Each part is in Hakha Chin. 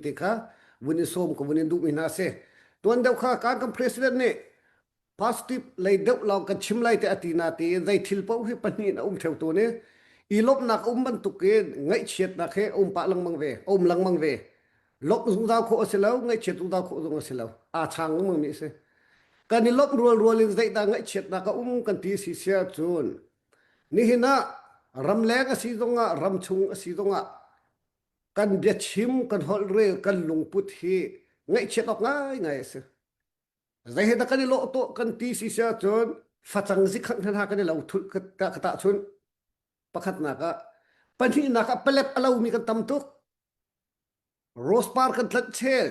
te kha vun i som ko vun in duh mi hna se tuan deuh kha kan kan president nih positive lei deuh lawng kan chim lai te ati na ti zai thil po hi pahnih a um theu tu ne i lop nak um ban tuk in ngai chiat nak he um pa lang mang ve om lang mang ve lop zung dao kho asilo ngai chiat zung dao kho zung asilo a chang mang mi se kan i lop rual rual in zai da ngai chiat na ka um kan ti si sia chun ni hina ram leng asi zonga ram chung asi zonga kan biachim kan holhrel kan lungput hi ngaihchiat awk ngaingai a si zei he dah kan i lawh tuah kan ti si si ahcun facang zikhanh hna kan i lo thulh ka ta chun pakhatnak ah pahnihnak ah palet a lomi kan tam tuk rose par kan tlat chel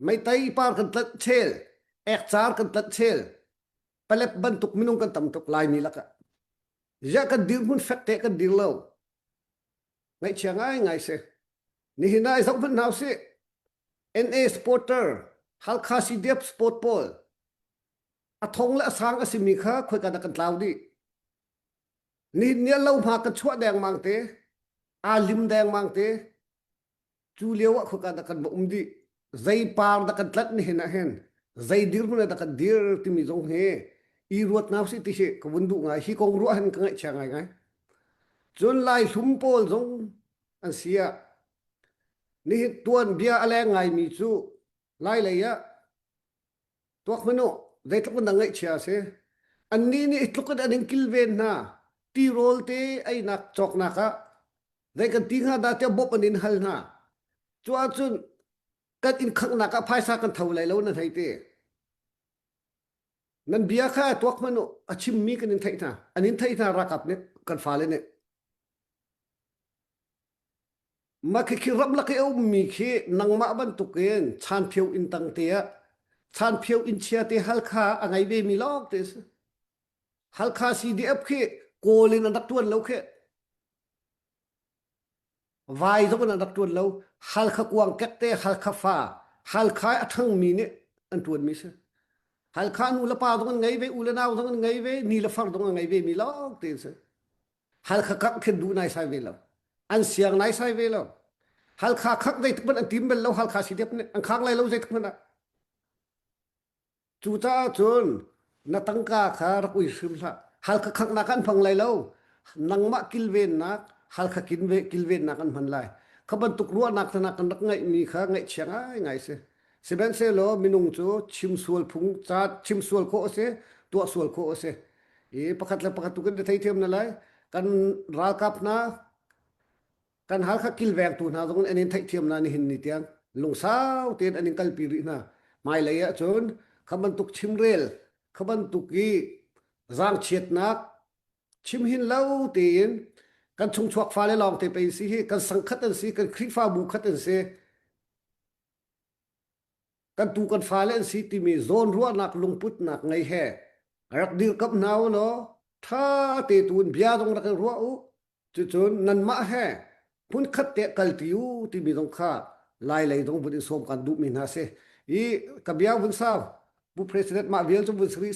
meitai par kan tlat chel ekcar kan tlat chel palet bantuk minung kan tam tuk laimi lakah ya kan dir hmun fek te kan dir lo ngaihchia ngaingai si nihin ah i zoh hmanh hau si NA supporter Halkha CDF sport pawl a thong le a sang a simi kha khoi kan kan tlau dih nihin ni lo hma ka chuah dengmang te aa lim dengmang te cu lio ah khoka dah kan va um dih zei par dah kan tlat ni hin ah hin zei dirhmun ah dah kan dir timi zong hi i ruat nga si ti hi ka vun duh ngai hi kong ruah han ka ngaih chia ngai ngai cun lai hlum pawl zong an sia ni hi tuan bia a leng ngai mi cu lai lei ah tuak manu zeitluk na ngaihchia si anni nih tluk in an in kilven hna tirawl te einak cawknak ah zei kan ti hnga da tiah bop an in hal hna cu ahcun kan in khaknak ah phaisa kan tho lai lo na thei te nan bia kha tuak manu a chimmi kan in theih hna an in theih hna rakap nih kan fale nih Na khi khi ramlak i a ummi khi nangmah bantukin chanphio inn tang te ah chanphio inn chia te halkha a ngei vemi lawng te a si. Halkha CDF khi kawl in an rak tuan lo khi vai zong in an rak tuan lo halkha kuang kek te halkha fa halkha a ṭhangmi nih an tuanmi si halkha nu le pa zong an ngei ve u le nau zong an ngei ve ni le far zong an ngei ve mi lawng te a si Halkha khak khin duh naisai ve lo. An siang naisai ve lo. Halkha khak zeituk hmanh an tim bel lo halkha si dep an khang lai lo zeituk hmanh ah. Cu caah cun na tangka kha rak ui hrim hlah. Halkha khak nak an phang lai lo. Nangmah kilven nak halkha kilven kilven nak an hman lai. Kha bantuk ruahnak tana kan rak ngaih mi kha ngaih chiang ai ngai si. Sihmanhsehlaw minung cu chimsual phung ca chimsual khawh a si, tuahsual khawh a si. I pakhat le pakhat tu kan theithiam na lai. Kan ralkap hna, kan hal kha kilvengtu hna zong an in theihthiam na nihin ni tiang. Lungsau tein an in kalpi rih hna. Hmailei ah cun kha bantuk chimrel, kha bantuk i zaangchiatnak chim hin lo tein kan chungchuak fale lawng te pei si hi, kan sangkhat an si, kan Khrihfabu khat an si. kan tu kan fale an si timi zawnruahnak lungputnak ngei he rak dirkamh hna u law ṭha te tu in bia zong rak i ruah u cucun nanmah he hmunkhat te kalti u timi zong kha lai lei zong vun i sawm kan duhmi hna si i ka bia vun sau pu president mah vial cu vun si rih